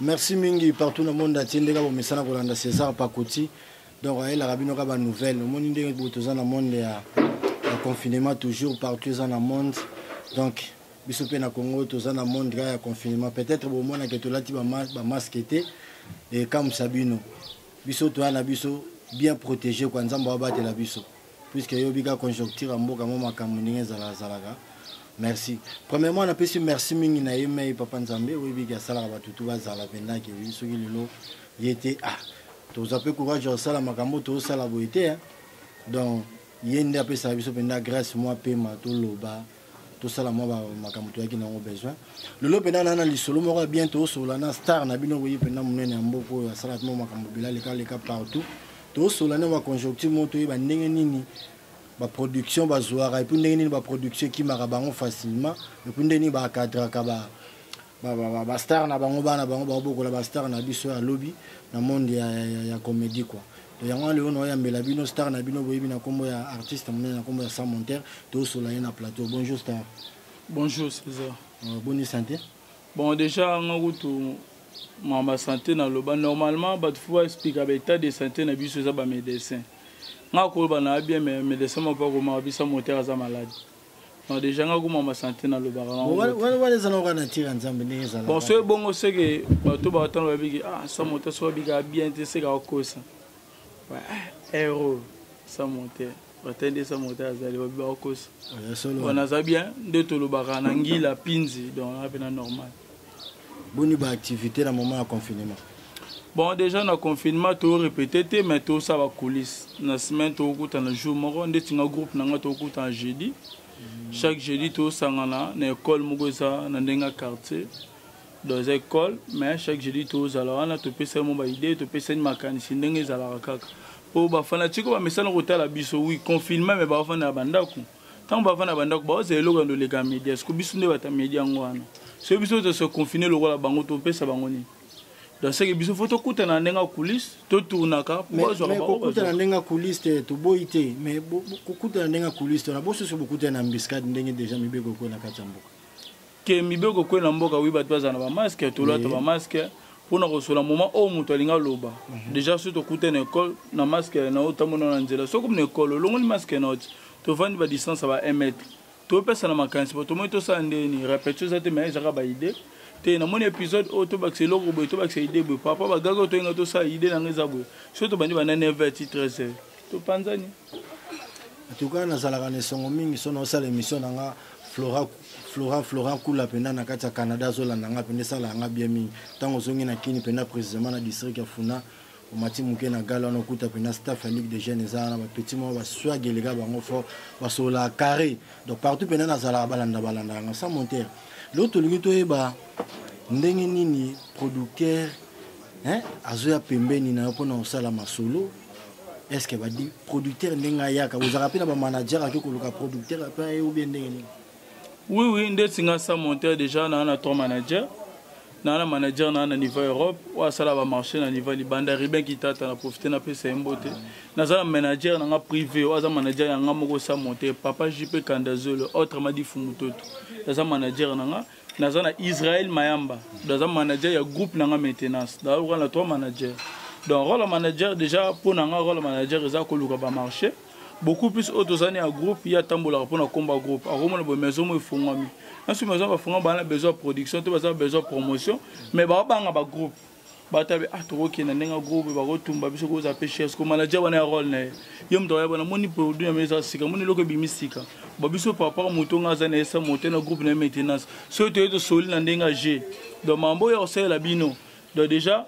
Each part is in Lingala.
merci mingi partout na monde atie ndenge bomesana kolanda césar pakuti donc ayelaka bino ka banouvelle omoni ndenge boye toza na monde ya confinement toujours partout eza na monde donc biso mpe na congo toza na monde kaka ya confinement peut-être bomona ke tolati bamaske te ekamwisa bino biso toya na biso bien protégé kua nzambe abatela biso puisque eyobi kaka conjoncture ya mboka mwa makambo ndenge ezalazalaka merci premièrement napesi merci mingi na ye mei papa nzambe oyebiki asalaka bato tu bazala mpenza ke wi soki lelo ye te ah toza mpe courage ya kosala makambo toosala boye te donc ye nde apesaka biso mpenza grâce mwa pema toloba tosala mwa makambo toyaki na yango besoin lelo mpena na na lisolo moko ya bien tosolola na star na bino boye mpena monene ya mboka oyo asalaki mwa makambo bila leka leka partout tosolola na baconjoncture moko toyeba ndenge nini baproduction bazwaka epuis ndenge nini baproduction ekimaka bango facilement epuis ndenge nini bakadraka ba ba star na bango bana bango baobokola ba star na biso ya lobi na monde ya, ya, ya, ya comédie quoi to yango wana lelo naoyambela bino star na bino boyebi na nkombo ya artiste monene na nkombo ya sans monter toosola ye na plateau bonjour star bonjour césar euh, boni santé bon déjà nga kutu mama santé naloba normalement bato fo baexplika baétat de santé na biso eza bamédecin nga koloba na abien médecin moko akomaka bisa motere aza malade non déjà nga kuma ma santé na lobaka na wana wana eza na wana tira nzambe ndenge ezala bon soki bongo seke bato ba tano babiki ah sa moto so babika bien te seka okosa ouais hero sa moto batai nde sa moto azali babi bakosa wana aza bien nde tolobaka na ngila pinzi donc ape na normal boni ba activité na moment ya confinement bon déjà na confinement to répété te mais to sa ba coulisse na semaine to kuta na jour moko ndeti nga groupe na nga to kuta na jeudi chaque jeudi to sangana na école moko eza na ndenga quartier dans école mais chaque jeudi to zala wana to pesa mo ba idée to pesa ni makanisi ndenge ezalaka kaka po ba fanatique ba mesana kotala biso oui confinement mais ba fana ba ndaku ntango bavanda na bandako baozela eloko yando oleka media siko biso nde bata media yango wana soki biso tose confine lokola bango topesa bango nini donc seke biso fo tokutana na ndenge ya coulisse totournaka kokutana ndenge ya coulisse te toboyi te mais kokutana ndenge ya coulisse tona bosusu bokutana na embuscade ndenge deja mibeko ekoki na kati ya mboka ke mibeko ekwe na mboka wi bato bazala na bamaske tolata bamaske mpo na kosola moment oyo moto alingi aloba mhm. déjà soki tokuta na ekole na maske na yo otambola na nzela soki na ekole olongoli maske na yo ti tovandi badistance ya ba 1 mètre topesana makanisi po tomoni tosala nde nini répétition eza te mai ezaka baide te namoni épisode oyo tobakisa eloko boye tobakisa ide boye papa bagaki oyo toyinga tosala ide na ngai eza boye soki tobandi banda 9 heure ti 13 heure topanzani en tout cas nazalaka na esongo mingi so naosala émission na nga flora Florent Florent Kula penda na kati ya Canada azolanda nga penda esala nga bien mingi ntango ozongi na Kini penda précisément na district ya Funa omati moke na gala wana okuta penda staff ya Ligue des Jeunes eza wana bapeti moko baswag eleka bango fort basololaka carré donc partout penda nazalaka balanda balanda yanga sans monter lelo tolingi toyeba ndenge nini producteur azoya pembeni na yo mpona kosala masolo est ce que badi producteur ndenge ayaka ozalaka mpe na bamanager ake koluka producteur mpe aye obie ndenge nini oui oui ndeti nga sa monteur déjà naa na trois manager naa na manager naa na niveau europe oyo asala bamarché na niveau libanda ribin kitata na profite napesa ye mbote naza na manager na nga privé oyo aza manager ya nga moko sa monteur papa jp kandazolo autrement difu mototo aza manager na nga naza na israel mayamba naza manager ya groupe na nga maintenance naoka na trois manager donc role manager déjà mpo na nga role manager eza koluka bamarché beaucoup plus oyo tozali ya groupe ye atambolaka mpo na komba groupe akomona boye maison mo efungwami nasuki maison bafunga baa na besoin ya production to baza na besoin ya promotion mais baobanga bagroupe bato abe ah, tokokenda ndenge ya groupe bakotumba biso kozala mpe chers ko manager wana ya role na ye ye moto ayeba namoni produit na mesa sika moni eloko ebimi sika ba biso papa moto nga aza na esa moto na groupe na ye maintenance soki toye tosoli na ndenge ya jeu donc mambo oyo akosalela bino donc déjà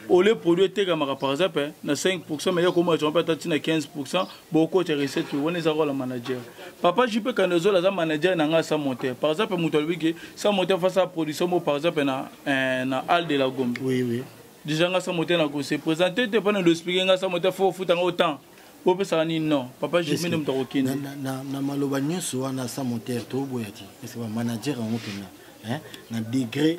ole produit etekamaka par exemple na 5 pourcent mais ye akomona tongo mpe ata ntina 15 pourcent bokotya recette wana eza kola manager papa jupe kando ezola aza manager na ngai sa moteur par exemple moto alobi ke sa moteur face a production mo par exemple na, eh, na al de la gombe oui, oui. déjà ngai sa moteur nakose présente te mpona loexplike ngai sa moteur fo ofuta ngai otemps bopesaka nini non papa jupe nde moto akokende na maloba nyonso wana sa moteur toboya te parce que bamanager yango mpenza na degré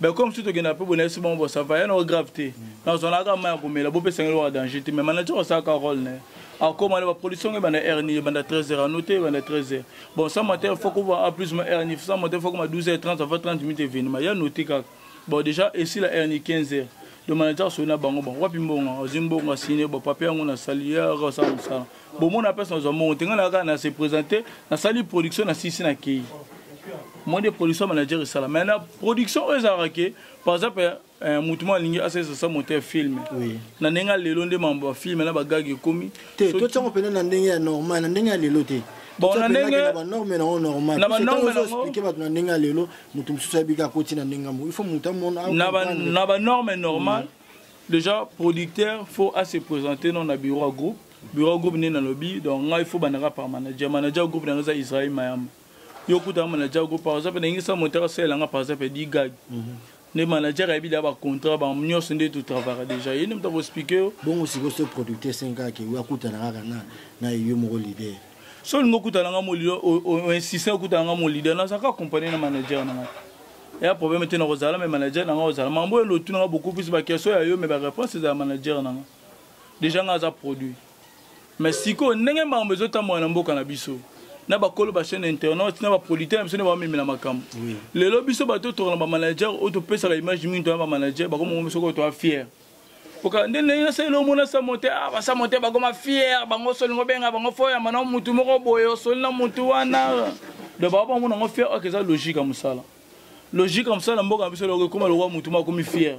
mais comme si tokenda mpe boye nayesi bango bosava ya nao grave te nazwanaka mai ya komela bopesanga eloko ya danger te mais manager osalaka role na ye akoma na baproduction ngo ebanda heure nini ebanda 13 heures anote ebanda 13 heures bon sans mater fo kova a plus ma heure nini sans mater fo koma 12 heures 30 avant 30 minutes evenima ya note kaka bon déjà esila heure nini 15 heures donc manager asoli na bango bon wapi mbongo azwi mbongo asine bon papier yango nasali ya osala mosala bomona place nazwa mbongo te ngai na kaka na se présente nasali production na sisi na kei moi nde production manager esala mai na production oyo ezalaka ke par exemple eh, motu moko alingi asalisa sa moto ya filme na ndenge ya lelo nde mambo ya filme na bagage ekomi te totyango mpenza na ndenge ya normal na ndenge ya lelo te bon na ndenge na banorme na yango normal na banorme na expliquer bato na ndenge ya lelo moto mosusu ayebika akoti na ndenge yango il faut moto amona na banorme normal mm. déjà producteur faut à se présenter non na bureau ya groupe bureau groupe nde nalobi donc ngai fo bandaka par manager manager groupe na noza israel mayamba yo okutaka manager groupe par exemple ndenge sa moteur asalela nga par exemple di gag mhm. nde manager ayebi da bacontrat ba nyonso nde totravaka déjà ye nde moto akoexplike yo bongo sikoyo so producteur esengaka ke akutana kaka na yo moko leader so olingi okutana nga molida oinsiste okutana nga molida nazalaka accompagne na manager na ngai eya problème te nakozala me manager na ngai ozala mambo elo otunanga beaucoup plus bakestion ya yo me bareponse ezala manager na ngai deja nga aza produit mais sikoyo ndenge makambo ezotambola na mboka na biso na bakolo bachaine internet na baproducteur na biso nde bamemela makambo lelo biso bato oyo tokana bamanager oyo topesaka image mingi tona bamanager bakomongo biso koyo toa fiere oka nde ndenge nasaleli omona samote a ah, basamote bakoma fiere bango osoli ngo benga bango fo oyamba na motu moko boye osoli na motu wana do baa bango nango fiere oyo eza logique ya mosala logique ya mosala na mboka na biso eloko ekoma lokwa motu moko akomi fiere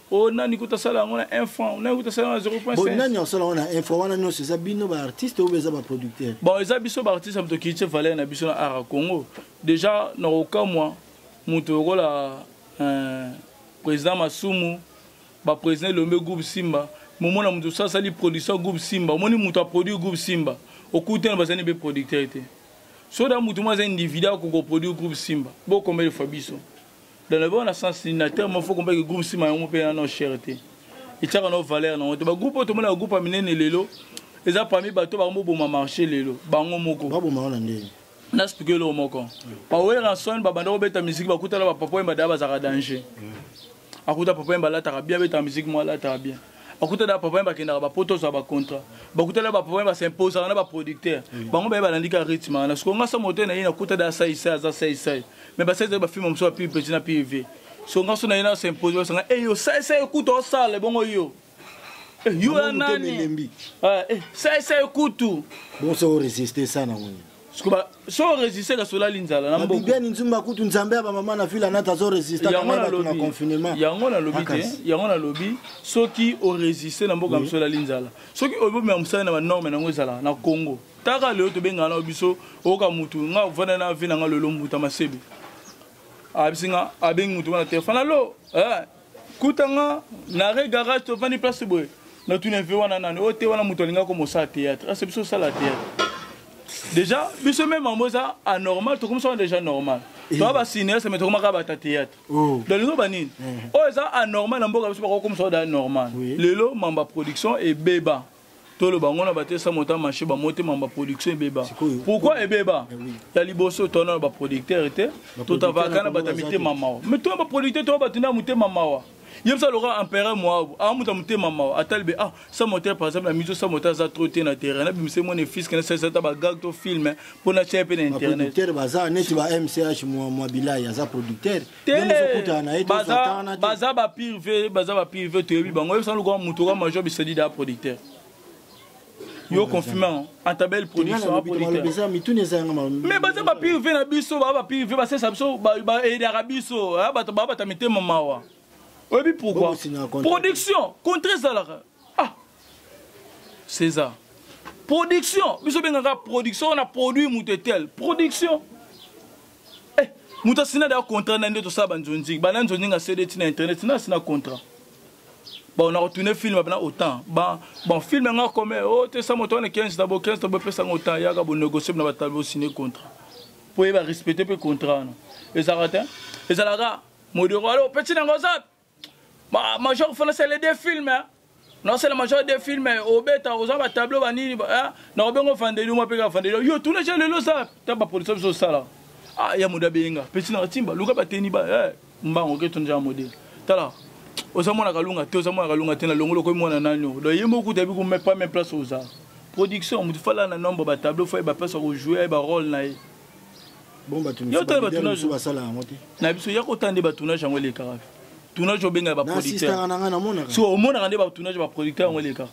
o oh, nani kuta asala yango na 1 franc nani kuta asala yango na 0.5 nani asala yango na 1 franc wana nyonso eza bino baartiste oyo eza baproducteur bon eza biso baartiste ya moto kitie valeur na biso na art ya congo déjà na kokamwa moto lokola euh, président masumu baprésident elombe groupe simba momona moto osasali production groupe simba omoni moto aproduire groupe simba okuti wana bazali mpe producteur te soda moto moko aza individu akokoproduire groupe simba bokombeli fa biso dans le bon na sens nini na terme faut comprendre que groupe nsima yango mpe nano cher te etiaka nao valeur nango te bagroupe oyo tomonaka groupe ya minene lelo eza parmi bato bango boboma marché lelo bango moko baboma wana ndenge nasplike eloko moko baweranson babanda kobeta miziki bakutana bapapa oyo badaya bazalaka danger akuta papa yemba alataka bien abetaka miziki mwa alataka bien bakutana bapapa ye bakendaka bapoto ozwa bacontra bakutana bapapa ye basimposaka na baproducteur bango baye balandi ka rythme wana siko nga somo te naye nakuta da saisai aza saisai mais basaisai bafilme mosusu ya pub petit na pv so nga so naye na simpose basanga eyo saisai kutu osala ebongo yo eh, yo ya nani saisai eh, kutu boso resiste sana ngoni so resiste kasi olali nzala na mbokabibiani nzumba kutu nzambe ya bamama na vile anata azo resistena confinement yango nalobi te yango nalobi soki oresiste na mboka mosu olali nzala soki obomema mosala na banorme nango ezalaka na congo taka lelo tobengana na biso oyoka motu nga ovanda na vi na nga lelo mbuta masebe abisi nga abengi motu wana te fanalo eh, kuta nga na re garage tovandi place boye natuna ve wana nani oyo te wana moto alingaki komosala théâtre ase biso osala théâtre déjà biso meme yango eza anormal tokomisa wana déjà normal eh. toa basinéaste me tokomaka bata théâtre oh. balingo banini eh. oyo eza anormal na mboka biso bakokomisa oda normal lelo mamba production ebeba toloba yango na batesa mota marché bamotema ba production ebeba pourquoi ebeba eh ya liboso tona na baproducteur te totavaka na bato ya mitema mawa mais toya baproducteur toya bato na ya motema mawa ye bisa lokola empereur moabu amuta ah, motema mawa atali be ah sa moteur par exemple na miso sa moteur aza trop te na terrain nabimisa ye mwana fiske nasalisa ata bagag to filme mpo natya ye mpe na internet baza neti ba mch mwa bilai aza producteur baza bapirve baza bapirve toyebi bango oyebisa lokola moto oka major bisalida ya producteur yo confirme ata belle production mais baza bapirve na biso baa bapirve basesa biso baedaka biso bato baa bata mitema mawa oyebi pourquoi production contre ezalaka ah césar production biso bengaka production wana produit moto etel production eh, moto asina daya contrat na nde tosala banzonzingi bana nzonzingi asede ti na internet na asina contrat bon na retourne film bana autant bon bon film nga comme oh te sa moto na 15 tabo 15 tabo pesa ngo autant yaka bo négocier na batabo signer contrat pour ba respecter pe contrat na ezalaka te ezalaka modero alo petit na ngo zap major fana sele de film eh? nasala major de film eh, obeta oza batableau banini eh? nakobengo vandeli mwa mpe kaka vandeli yo tuna ja lelo oza ta bapolisi biso osala ah, ya moda beyenga pesi na katimba luka bateni ba eh, mbango ke tuna ja modele tala oza mwana kalunga te oza mwana kalunga te na longolo okomi mwana nani o donc ye moko kuta yebi kumepa me place oza production motu fala na nombre batableau fo ye baplace ya kojoue ye barole na ye na biso ya kota nde batournage yango elekaka tournage obengaka baproducteurso omonaka nde batournage baproducteur yango elekaka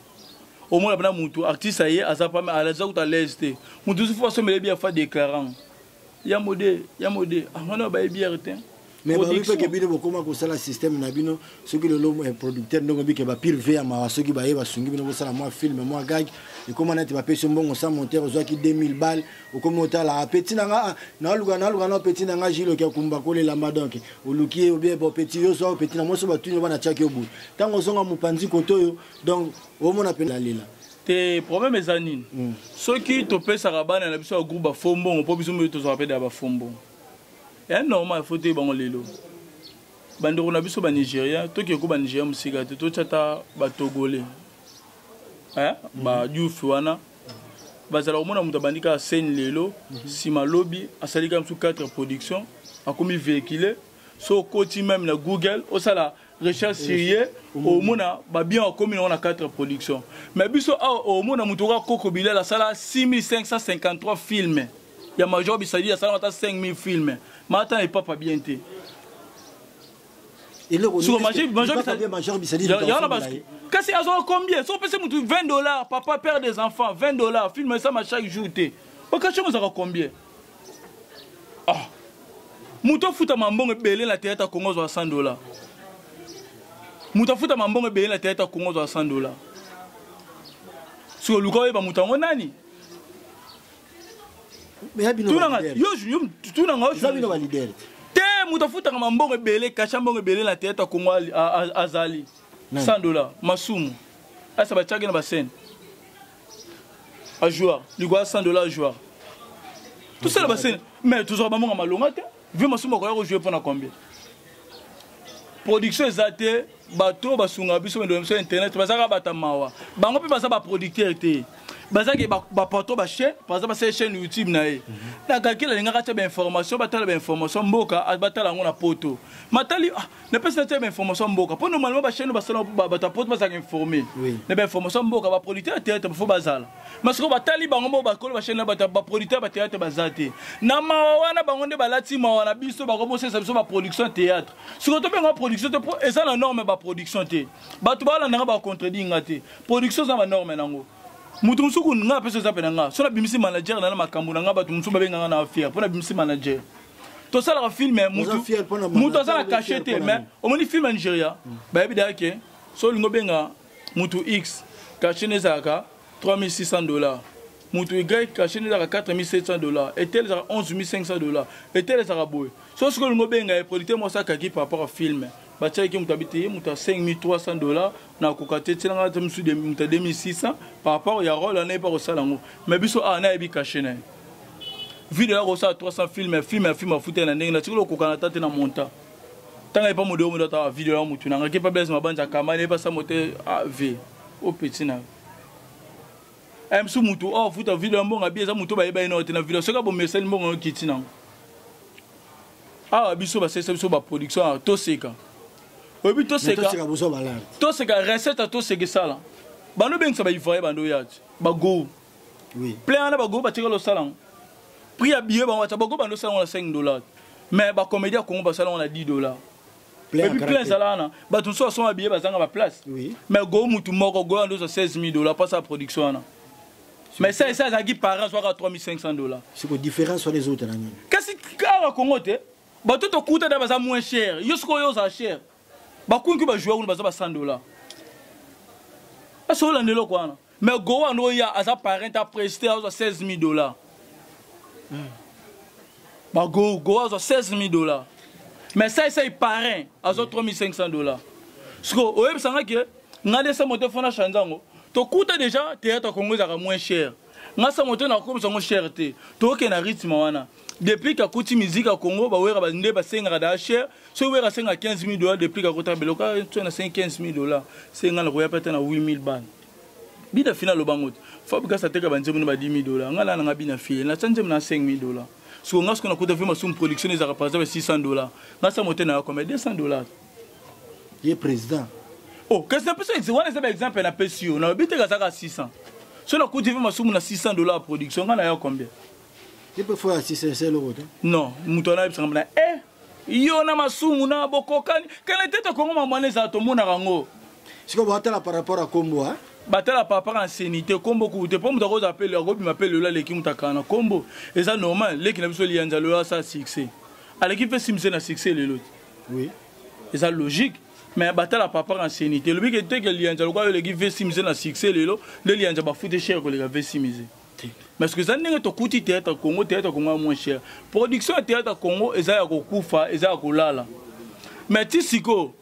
omona mpena motu artiste aye aza pame aza kuta alaise te motu mosusu fo asombele bia fa déclarant ya mode ya mode angana baye biere te mais balobi mpe ke bino bokoma kosala système na bino soki lelo eh, producteur ndenge obike bapire ve ya mawa soki baye basungi bino bosala mwa filme mwa gag ekoma neti bapesi mbongo sa monteur ozwaki 2000 balle okomi otalaka peti na nga ah, naluka naluka na peti na nga jiloki akumba kolelamba donc oluki ye obie bo peti yo zwa peti na mwasi batuni oba natyaki yo boye ntango ozonga mopanzi kote oyo donc omona mpe lalela te problème eza nini hmm. soki topesaka bana na biso ya groupe bafo mbongo mpo biso mpe tozwaka mpe da bafo mbongo ya normal fo toyeba yango lelo bandeko na biso banigeria toke ko banigeria mosika te totya ata batogole eh, badiofi wana bazala komona moto abandi kaka seni lelo nsima mhm. lobi asali kaka mosusu 4 production akomi véhicule so okoti meme na google osala recherche sérieux omona babien akomi nango na 4 production mais biso awa omona moto oka koko bilal asala 6553 filme ya major bisadi asala ata 5000 filme maata na epapa bien te kasi azwaka combien so opesi motu 20 dollars papa père des enfants 20 dollars filme esama chaque jour te okasio mozaka combien ah. moto afutama mbongo ebele na teyata kongo azwa 100 dola moto afutama mbongo ebele na teyata kongo azwa 100 dola sikoyo luka oyeba moto yango nani te moto afutaka mambongo ebele kasha mbongo ebele na teyata kongo azali 100 dola masumu asa batiaki na basene a joueur likoya 100 dollars a joueur tosala basene mais tozwaka bamonga malonga te vie masumu akoya kojoue mpo na combien production eza te bato oyo basunga biso bendela biso internet bazalaka bata mawa bango mpe baza baproducteur te bazalaki bapato bachaine baza basala chaîne youtube na ye mhm. na kalkile alingaka atya bainformation batala bainformation mboka batala yango na poto matali ah, napesi na tia bainformation ya mboka mpo normalement bachaine basala bato ya poto bazalaka informe na bainformation ya mboka baproducteur ya théâtre bafo bazala ma sikoyo batali bango moko bakolo bachaine na bato baproducteur ya bathéâtre baza te na mawa wana bango nde balati mawa na biso bakobosalisa biso baproduction ya théâtre sikoyo tobenga production te mpo eza na norme baproduction te bato balandanga bacontredit nga te production eza na banorme nango moto mosuku nga apesi oza mpe na nga so nabimisi manager na na makambo na nga bato mosuku babenganga na fiere mpo nabimisi manager tosalaka filme motu aza na cache te mais omoni filme ya nigeria mm. bayebi daya ke so olingi obenga motu x cache ne ezalaka 3600 dollars motu y cache ne ezalaka 4700 dollars etele ezalaka 11500 dollars etele ezalaka boye so soki olingi obenga ye producteur moko asakaki par rapport ya filme batiaki moto abi te moto ya 5300 dollar nakoka te tielanga ata mosusu moto ya 2600 par rapport ya role anayebi akosala yango mais biso awa ah, nayebi kashe na ye video ya kosala 300 filme filme ya filme afutai na ndenge natikoli okokana ata te na monta ntango ayepa modo yo modo ata ah, video ya motu nanga ke pa blaise mabanza kamba nayebi asa mote av ah, o petit na eh, msu motu o oh, futa video ya mbongo abi eza motu bayeba ye nao te na video soki abomesani mbongo yo kiti nango awa ah, biso basalisa biso baproduction awa toseka oyebi toseka recette ya toseka esala bando obengisa baivoye bando oya ti bago plein wana bago batikala osala yango prix ya billet bango bata bago bando osala yango na 5 dollar mais bacomédie ya congo basala yango na 10 dollar epuis plein ezala wana bato mosusu basoma billet bazanga baplace mais go motu moko go yando ozwa 16 000 dollar mpasa ya production wana mais ça esa azalaki parent azwaka 3500 dollars siko différence wana ezouta na nini kasi awa kongo te bato tokuta da baza moins cher yo sikoyo oza cher bakunki bajoueur kuna baza ba 100 dollars asolanda eloko wana mais go wana oya aza parent apreste azwa 16000 dollars hmm. bago go azwa 16000 dollars mais saisai parent azwa 3500 dollars siko oyebisanga ke nga de sa moto fona chanza yango tokuta deja théâtre congo ezalaka moins cher nga sa moto nakokomisa yango cher te tooke na rythme wana depuis kakuti musique ya congo bawera nde basengaka da cher soki wera asenga 15 000 dollars depuis kakota beloka so nasengi 15 000 dollars senga nakoya mpe ata na 8 000 bana bina fina aloba ngo te fabrigas ateka banzembo na ba 10 000 dollars nga na nanga bina fie na sa nzembo na 5 000 dollars siko nga siko nakuta mpe masumu production ezalaka par exemple 600 dollars nga sa mote na yakoma 200 dollars ye président oh kasi na pesi exe wana eza ba exemple na pesi yo nalobi te kazaka 600 so nakuti mpe masumu na 600 dollar ya production ngai na yo combien ye mpe fo ya 600 esa eloko te non moto wana ayebisaka mbana e eh, yo na masumu na bokokani kala te tokongo mamwana ezala tomonaka yango sikoyo batala par rapport ya kombo a batala par rapport ya nseni te kombo kuku te mpo moto akozala mpe akobima mpe lelo aleki moto akala na kombo eza normal leki na biso liyanza lelo asala succès aleki mpe simse na succès lelo te oui eza logique mais batala papa na seni te elobi ke te ke liyanza lokola yo oleki vesi mise na succès lelo nde liyanza bafute cher koleka vesi mise mais que eza ndenge tokuti théâtre congo théâtre congo ya moins cher production ya théâtre congo eza ya kokufa eza ya kolala mais ti sikoyo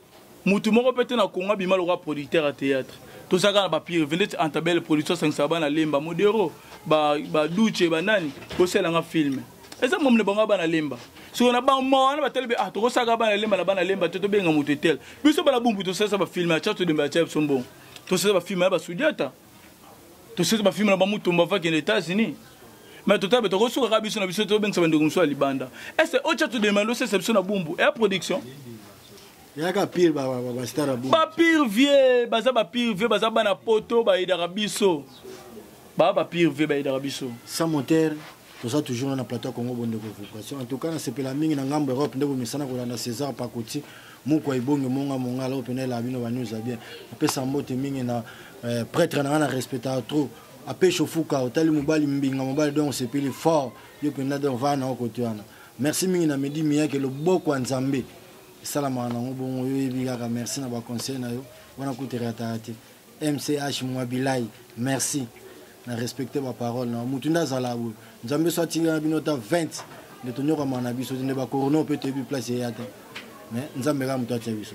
motu moko mpe te na congo abima lokola producteur ya théâtre tozalaka na bapire vendete antabele production asangisaka bana lemba modero baduce ba banani bosalelanga filme eza mamu na bango bana lemba soko na bama wana batali be ah tokosaka bana lemba na bana lemba te tobenga moto etele biso bana bumbu tosalisa bafilme aca todemba aca biso mbongo tosalisa bafilme ya basudiata tosalisa bafilme na bamutumba vakende états-unis mais totabe tokosuka kaka biso na biso tobengisa bandeko mosusu ya libanda ese oca todemba ndosesa biso na bumbu ya production yaka pire bastar ya bumbu bapire vie baza bapire vie baza bana poto bayedaka biso baa bapire vie bayedaka biso sans moteur toza toujours na na plateau ya congo bondeko vibration en tout cas nasepela mingi na ngambo europe nde bomesana kolanda césar pakoti moko ya ibonge monga mongala oyo mpena elaa bino banews ya bien napesa mbote mingi na euh, prêtre na ngai na respectaka trop apeshe ofuka otali mobali mbinga mobali donc osepeli fort yo mpenza donc vaa na okote wana merci mingi na midi miyake loboko ya nzambe esalamaka nango bongo yo oyebi kaka merci na baconseil na yo wana kutu erataka te mch mwabilai merci na respecte baparole na motu nde azala boye nzambe so atinda na bino ata 20 nde tonyokamaka na biso te nde bakorona mpe toyebi place eya te mais nzambe kaka moto atia biso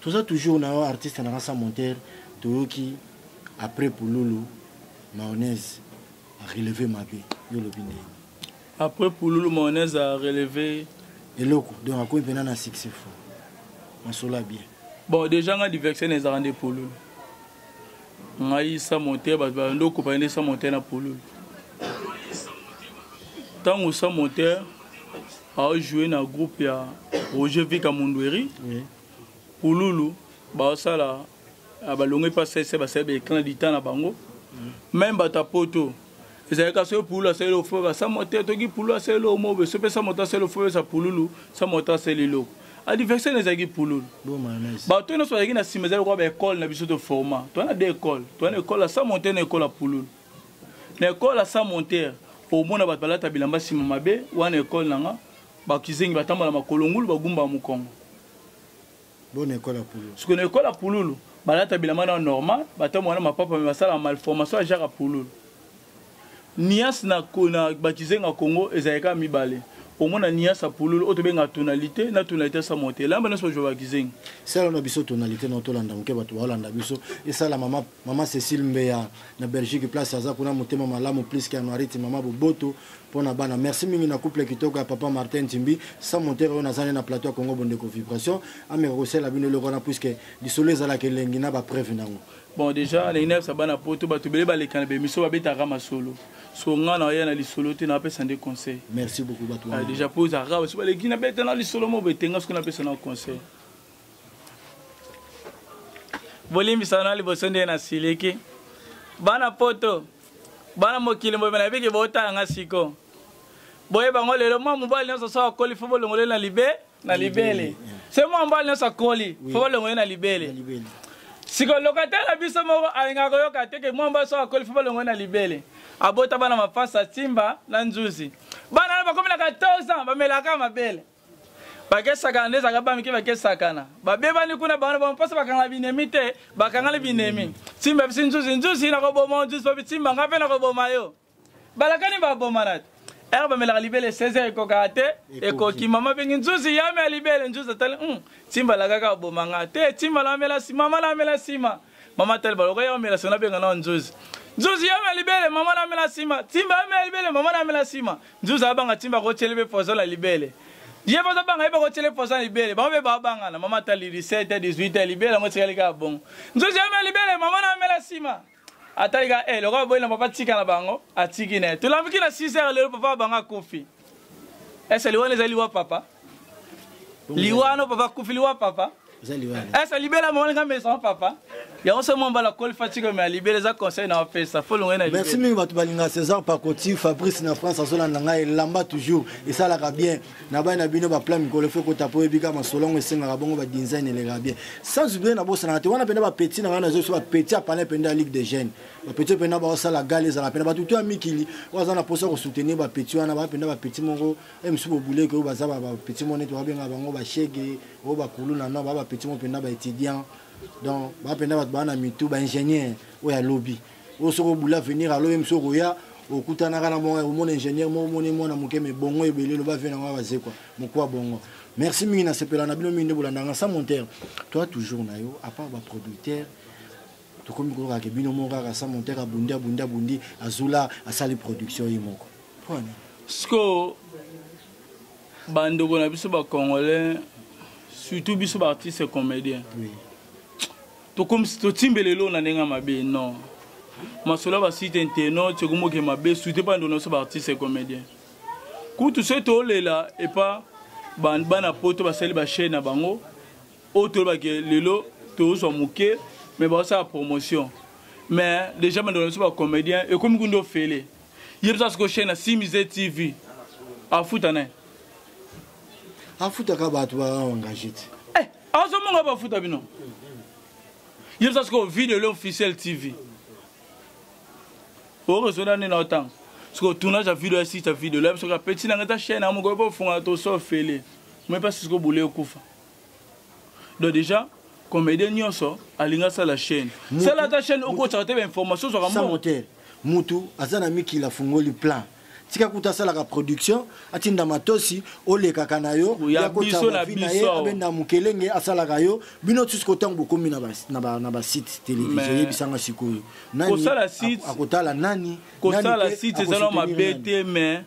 toza toujours na yo artiste na kasa montere toyoki après pululu mayonnaise areleve mabe yo olobi ndenge Après pululu mayonnaise a relevé eloko donc akomi mpena na succès fo masolo ya bien bon déjà nga diversion ezalaka nde pululu ngai sa monte bato balandi okopani nde sa monte na pululu ntango sa monte aojoue na groupe ya roger vika mundueri oui. pululu baosala ah, balongwe mpa sese basali ba ecran du temps na bango meme bato ya poto ezalaka soki pululu asali eloko fo basamwa te toki pululu asali eloko mobe so mpe samwa to asali eloko fo besa pululu samwa to asali eloko adversaire na ezalaki pululu bato nyonso bazalaki na nsima ezali lokola baekole na biso to forma toa na de ekole toa na ekole ya sa montere na ekole ya pululu na ekole ya sa montere omona bato balata bilamba nsima mabe wana ekole na nga bakizengi batambola makolo ngulu bagumbaka mokongo Bona école ya pululu. Siko na école ya pululu balata bilamba na normal, batambo wana mapapa mais basala malformation ya Jacques pululu. Nias na na bakizenga Congo ezalika mibale. Omona nias ya pululu oyo tobenga tonalité na tonalité sa mote. Lamba na so joba kizenga. Sala na biso tonalité na tolanda moke bato baolanda biso. Esala mama mama Cécile Mbeya na Belgique place aza kuna motema malamu plus que anuarite mama boboto pona bana merci mingi na couple kitoko ya papa martin timbi sans montere oyo nazali na plateau ya congo bondeko vibration ameka kosala bino eloko wana puiske lisolo ezalaka elengi na bapreuve nango bon déjà na ina yebisa bana poto bato ebele baleka na bemission babetaka masolo so ngai na oya na lisolo te napesa nde conseil merci beaucoup bato ah, déjà mpo ozalaka baso baleki nabeta na lisolo mo betenga soki napesa na conseil bolimbisa na liboso nde nasiliki bana poto bana mokili mboye na biki botala nga siko boye bango lelo mwa mobali nyonso so akoli fo bolongole na libe na libele se mwa mobali nyonso akoli fo bolongole na libele siko lokata na biso moko alingaka koyoka te ke mwa mobali so akoli fo bolongole na libele abota bana mapasa timba na nzuzi bana wana bakomi na 14 ans bamelaka mabele bakesakana nde ezalaka bamike bakesakana babebani kuna bango bango mposa bakanga binemi te bakangani binemi simba bisi nzuzi nzuzi nakoboma nzuzi babi simba nga mpe nakoboma yo balakani babomana te ere bamelaka libele 16 ekokaka te ekoki mama bengi nzuzi yame ya libele nzuzi atali hmm, simba alakaka aboma nga te simba lamela mama lamela nsima mama tali baloka ya omela sona benga na nzuzi nzuzi ya omela libele mama na mela sima timba ya omela libele mama na mela sima nzuzi abanga timba ko tele be pozo la libele ye baza banga ye bako tele pozo la libele bango be ba banga na mama tali 17 18 libele ngo tikali ka bongo nzuzi ya omela libele mama na mela sima atali ka eh lokola boyina papa tika na bango atiki na ye tolambi ki na 6 heures lelo papa banga kufi ese liwa eza liwa papa liwa ano papa kufi liwa papa ese libela mama nga maison papa yango se mwa mbala koli fatiko me alibela eza conseil na opesa folongai na merci mingi bato balinga césar pakoti fabrice na france azolanda ngai elamba toujours esalaka bien na bai na bino baplan mikolo fe kota mpo oyebika masolo yango esengaka bongo badinzaine elekaka bien sans oublie nabosanaka te wana mpenza bapeti na ngai nazoyebisa bapeti apana mpenza ya ligue de jeune bapeti mpena baosala gale ezala mpena bato to ya mikili oyo aza na mposa kosoutenir bapeti wana baa mpena bapeti moko e mosusu bobuleke oyo baza bapeti moko neti babengaka bango bashege oyo bakulu na no baa bapeti moko mpena baétudiant donc baa mpena bato baa na mitu baingénieur oyo alobi oyo soki obula avenir alo ye mosusu okoya okutanaka na bongo omona ingénieur moko omoni mwana moke me bongo ebele loba vie nango bazekwa mokuwa bongo merci mingi nasepela na bino mingi nde bolandanga sa montere toi toujours na yo apart baproducteur tokomi koyoka ke bino moko kaka sa montek abundi abundi abundi azula asali production ye moko pwani sikoyo bandeko na biso bacongolais surtout biso baartiste comédien oui. tokomisi totimbela elo na ndenge ya mabe non masolo ya basite inteno tiokomoke mabe surtout epa ndeko na biso baartiste comédien kutu soki tolela epa bana poto basali bachaine na bango oyo toyeba ke lelo tozwa moke mais baosala promotion mais déjà bandeko na biso bacomédien ekomi kundi ofele ye biso asiko chaine ya simise tv afuta naye afutaka bato baengage te eh, azomonga bafuta bino ye biso asiko video le officiel tv oresoda nde na otanga siko tournage ya video ya site ya video loyebi soki apeti nanga eza chaine yango moko ekofunga toso ofele moye mpasi siko bule ekufa donc déjà comédien nyonso alingi asala chaîne sala ata chaîne okotaka te bainformation ozwaka mbongo mutu aza na mikili afungoli plan tika kuta asalaka production atinda matosi olekaka na yo yakotabavi na ye abenda mokelenge asalaka yo bino tusu kotango bokomi na basite televizio oyebisanga sikoyo akotala nani kosala site ezala mabe te mais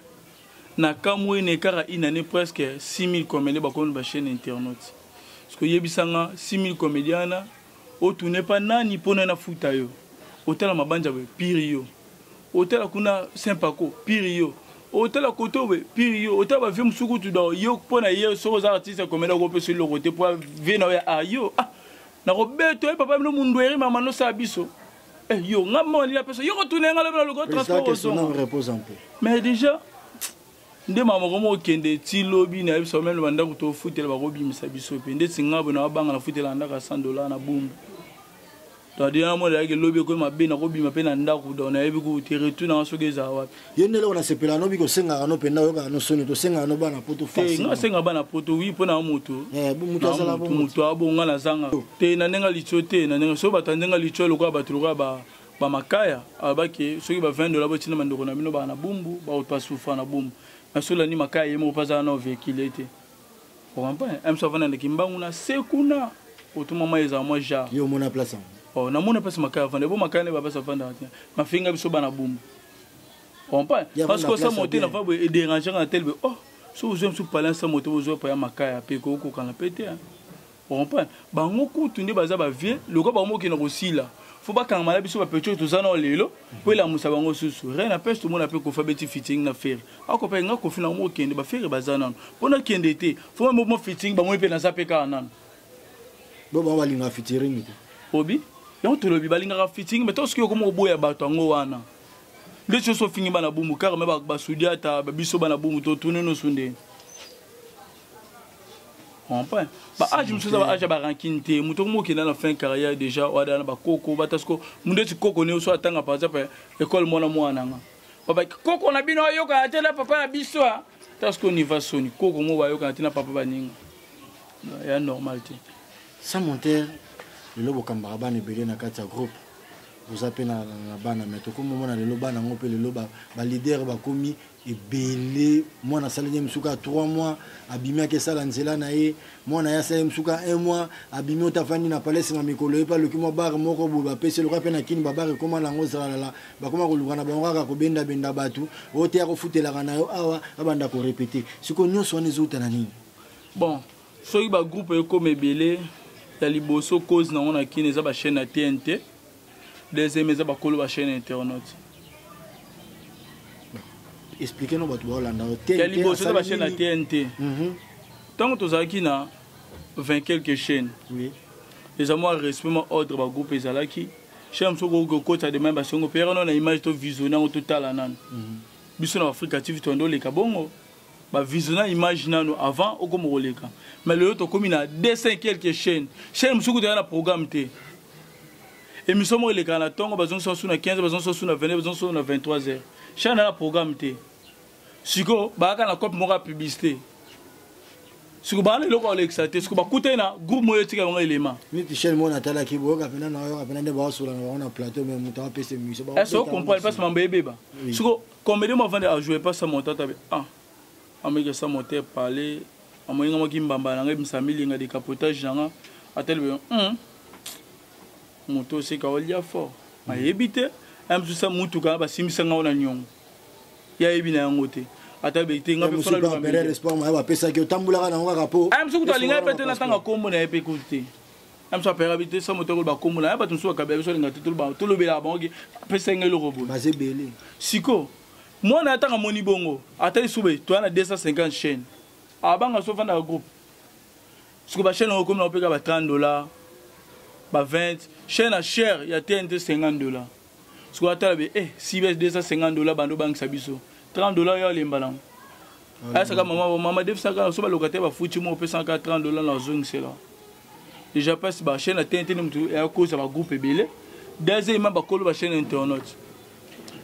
na kamwe na écart ya une année presque 6000 comédien bakomi ba chaîne internaute siko yebisa nga 6000 comédien wana otune pa nani mpo nani afuta yo otala mabanja boye piri yo otala kuna sempako piri yo otala koto boye piri yo otala bavie mosusu kutu do yo mpo na ye soki oza artiste ya comédien okopesa eloko te mpo vie na yo ya ayo ah, ah. nakobeta ye papa bino mundueri mama nosala biso Eh, yo nga moko nalingi napesa yo kotuna ye nga lobi na lokola transport ozonga mais déjà nde mama moko mokende ti lobi nayebisa yo meme bandako tofutela bakobimisa biso mpe ndeti nga boye nabanga nafutela ndako ya 100 dollar na bumbu tadeyana mwana yake lobi ekomi mabe nakobima mpe na ndako donc nayebi kutu te retour nanga soki ezala wapi yo nde eloko nasepela no biko osengaka no mpenza oyokaka no soni tosengaka no bana poto eh, nga asenga bana poto wi mpo na yo moto eh, moto abonga na zanga te na ndenge litio te na ndenge so bato ya ndenge litio lokola bato lokola bamakaya abaki ah, soki ba 20 dola botina bandeko na bino baa na bumbu baoto asufra na bumbu na sola ni makaya ye moko mpo azala na ovekile te okampa mso avanda na kimbangu na se kuna otuma mwa ezala mwa jar yo omona place yango oh, namona place makaya avanda ebo makaya nde bapasi avandaka te mafinga biso bana bumbu comprend parce que ça monter la fois et déranger na tel oh so vous aimez sous parler ça monter vous pas makaya pe ko ko kana pete hein comprend bango kutu nde baza ba vieux loko bango kina ko sila faut ba kanga mala biso ba pecho to zana lelo po la musa bango susu rien na peste mona pe ko fa beti fitting na faire ako pe nga ko fina mo kende ba faire bazana pona kende te faut mo fitting bango pe na za pe kana bo bango balingaka fitiringi te obi yango tolobi balingaka fitiringi me to soki okoma oboya bato yango wana nde ti oso ofingi bana bumu kaka me basudi ata biso bana bumu totuni nosu ndeni comprend ba age mosusu eza ba age ya barankine te moto okomi okenda na fin carrière déjà oada na bakoko bata siko moto eti koko ne oso atanga par exemple école mwana mwana nga baba koko na bino ayokana te na papa na biso a ta siko niva soni koko mo bayokana te na papa baninga ya normal te sans monteur lelo bokambaka bana ebele na kati ya groupe boza mpe na bana mai tokomi omona lelo bana yango mpe lelo balider bakomi ebele mwana asaleli ye mosuka ya 3 mois abimi ake esala nzela na ye mwana ye asala ye mosuka 1 mois abimi oto afandi na palais nsima mikolo ye mpe aluki mwa bare moko boye bapesi eloka mpe na kini babare ekoma na yango zalalala bakoma koluka na bango kaka kobendabenda bato oyo te akofutelaka na yo awa abanda korepete sikoyo nyonso wana ezouta na nini bon soki bagroupe ekoma ebele ya liboso cause nango na kini eza bachaîne ya tnt deuxième eza bakolo bachaîne ya internaute explike no bato baolanda ya liboso eza bachaîne ya tnt ntango mhm. tozalaki na 20 quelque chaîne eza mwa respect mwa ordre bagroupe ezalaki chaîne mosusu okoki kokotisa dema basengo mpe yaka no na image to visione yango totala nano mhm. biso na afrika tv toyanda oleka bongo ba visiona image nanu avant okoma koleka mais lelo tokomi na 200 quelques chaînes chaîne mosusu kutu eza na programme te émission moko elekaka na ntongo bazongisa mosusu na 15 bazongisa mosusu na 22 bazongisa mosusu na 23 heures chaîne na programme te sikoyo bayaka na cope moko ya publicité siko bana eloko alekisa te siko bakutani na groupe moyo etika bango elema neti chaine moko natalaki boyoka mpena nayoka mpena nde baosola na bango na plateau me moto apesa emission est ce que ocomprendre mpasi mambo ebeba siko Comedy moi vanda a jouer pas ça mon tata ah ameke ça mon tête parler amoyenga moi kimbamba na ngai msami linga de capotage na nga atelbe hum moto seka olia fort ayebi te ya mosusu ya motuka basimbisa ngai na niongo ya yebi na yango te ata be te ngai mpe fana bapesaki otambolaka na yango kaka mpo mosusu kutu alingaki mpe te natanga nkombo na ye mpe kutu te na biso apayaka bito esa moto akoloba kombo na ya bato mosusu bakabela biso alinga te tolobelaka bango ke apesa ngai eloko boye baza ebele siko mwana ya ntango amoni bongo ata lisuba toya na 250 chaîne abanga so ofandaka groupe siko bachaîne yango okomi na opeka ba 30 dollar ba 20 chaîne ya chere ya tnt 50 dollar sikoyo atala be eh, cbs 250 dola bando bangisa biso 30 dola yo alemba nango ayasaka mama mama defisaka na so balokataire bafuti mo opesaka 30 dola na ozongisela déjà pasi bachaine na tente nde moto akoza bagroupe ebele deuxièmement bakolo bachaine internaute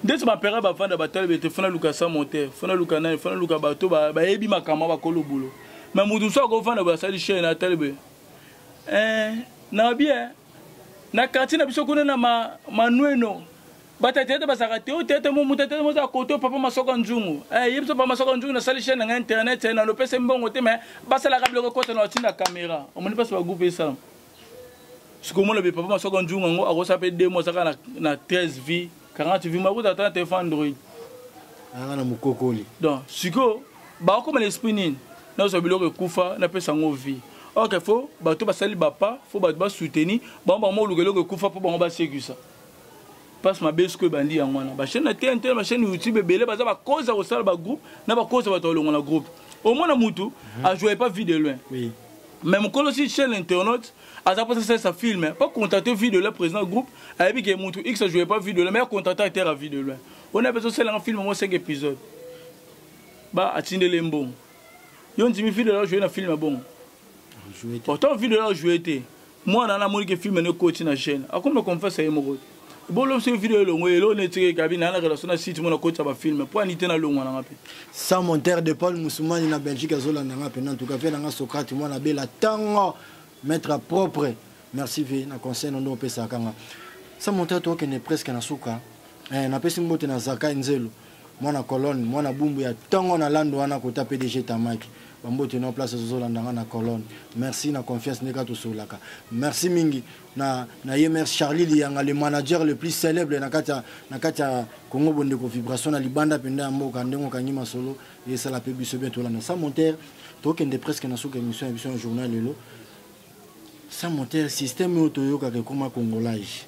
ndeti bapere bafanda batali bete fona luka sa monter fona luka nani fona luka bato bayebi makambo bakolo bulo me moto mosusu akofanda basali chaine atali be eh, na bien na quartier na biso kuna na ma, manueno bata tete bazalaka te o tete mo moto tete moza koto papa masoka nzungu eh ye biso papa masoka nzungu nasali chaîne na ngai internet eh, na lopese mbongo te mais basalaka biloko ekota na batinda kamera omoni mpasi bagroupe esala sikomona be papa masoka nzungu yango akosala mpe demo azaka na, na 13 vie 40 vie makuta ata na telefone android anga na mokokoli donc sikoyo bakokoma na esprit nini nazwa biloko ekufa napesa yango vie ok fo bato basali bapa fo bato basoutenir bango bango moluka eloko ekufa mpo bango basekwisa mpasi mabe siko ebandi yango wana bachaine na tnt na bachaine youtube ebele baza bakozi ya kosala bagroupe na bakozi ya bato balongo na groupe omona motu mhm. ajoye pas vie de loin oui. mais mokolo si chaîne internaute aza mposa asalisa filme pas contacte vie de loin président groupe ayebi ke motu x ajoye pas vie de loin mais akontacte acteur ya vie de loin ona mpe ezosalanga filme yango 5 épisode ba atindele mbongo yo ndimi vide la joue na film ya bongo pourtant vide la joue te mwana na amoni ke film ne koti na chaîne akomi na confesse ye moko te bolo biso video elongo elo ne tike kabi na na relation na site mona koti ba film po anite na longwa na ngape sans monteur de Paul Musumani na Belgique azola na ngape en tout cas na Socrate mwana bela tango mettre propre merci vie na conseil ndo pesa kanga sans monteur to kende presque na suka eh na pesi mbote na zaka nzelu mwana colonne mwana bumbu ya tongo na lando wana kota pdg tamaki bambote na place ozozolanda nga na colonne merci na confiance nde kaka tosololaka merci mingi na, na ye mère charlie liyanga le manager le plus célèbre na kati na kati ya congo bondeko vibration na libanda mpenza ya mboka ndenge okangi masolo esala mpe biso bien tolanda sa montere tokende presque na suka émission ya biso ya journal lelo sa montere système oyo toyokaka ekoma congolage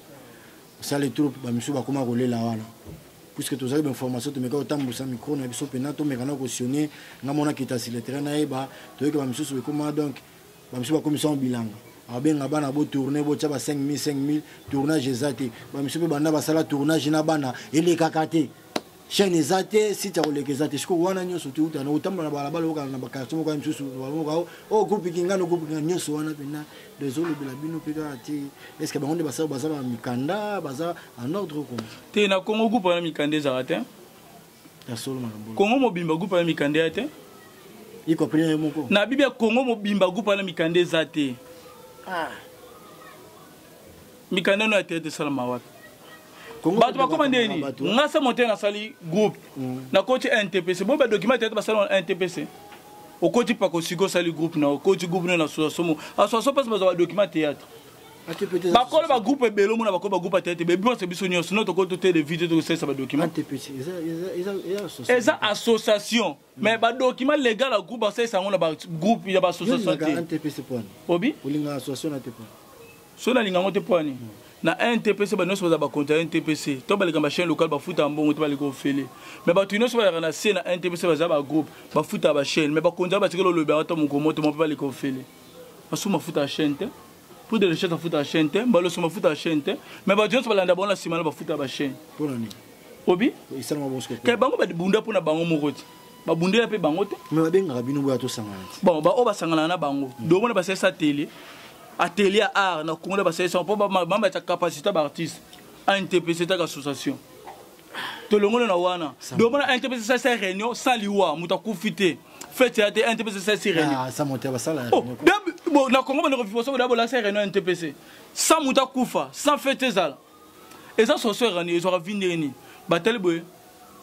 sale trop bamisusu bakoma kolela wana puisque tozali bainformation tomeka kotambusa micro na biso mpena tomeka na kosionne nga mona kitasi le terrain nayeba toyoki bamisusu ekoma donc bamisusu bakomisango bilanga abenga bana botourne botya ba 5000 5000 tournage eza te bamisusu mpe banda basala tournage na bana elekaka te chaine eza te site ya koleka eza te sikoyo wana nyonso touta na kotambola na balabala okana na bakartie moko ya misusu balomoko o oh, groupe kingano groupe kingano nyonso wana mpena dezolobela bino mpe kaka te estce bango nde basala baza na mikanda baza en ordre koma te na congo groupe wana mikanda ezala te ya solo makambo congo mobimba groupe wana mikanda ya te ikoprene moko na bibi ya congo mobimba groupe wana mikanda eza te ah. mikanda no ya teyate esalama wapi bato bakoma nde nini nga se mote nasali groupe mm. nakoti ntpc bo badocument teyate basala na ntpc okoti pako siko osali groupe na okoti groupe no na soasomo asoaso mpasi bazwa badocument teyatre bakolo bagroupe ebele omona bakolo bagroupe ateye te bebionse biso nyonso no tokoki totelevite tokosalisa badokima eza association mais ba document legal ya groupe basalisa yango na ba groupe ya ba société obi olinga association na te pona so nalinga yango te mpo ani hmm. na ntpc bato nyonso bazala bakonta ya ntpc to baleka ba chaîne locale bafutaka mbongo te baleka ofele mais bato nyonso baleka na se na ntpc baza bagroupe bafutaka bachaîne mais bakonzi ya batikela olobi yango ata moko moto moko mpe baleka ofele basusu mafuta ya chaîne te pour de recherche afuta ya chaîne te mbaloso mafuta ya chaîne te mais bato nyonso balanda bango na nsima na bafuta ya bachaîne obi kaya bango babunda mpo na bango moko te babundela mpe bango te babengaka bino boya tosangana te bon baoyo basanganaka na bango mm. domona basalisa tele atelier ya art na kongo na basalisa mpo bamama ya capacité baartiste antepese etaka association tolongoli na wana domona antepese esalisa réunion sans liwa moto akufi te fete ya te ntpc sasi réunion na congo bandeko viposo boda bolasa réunion ntpc sans moto akufa sans fete ezala eza sorcière ani ezwaka vi ndenge nini batali boye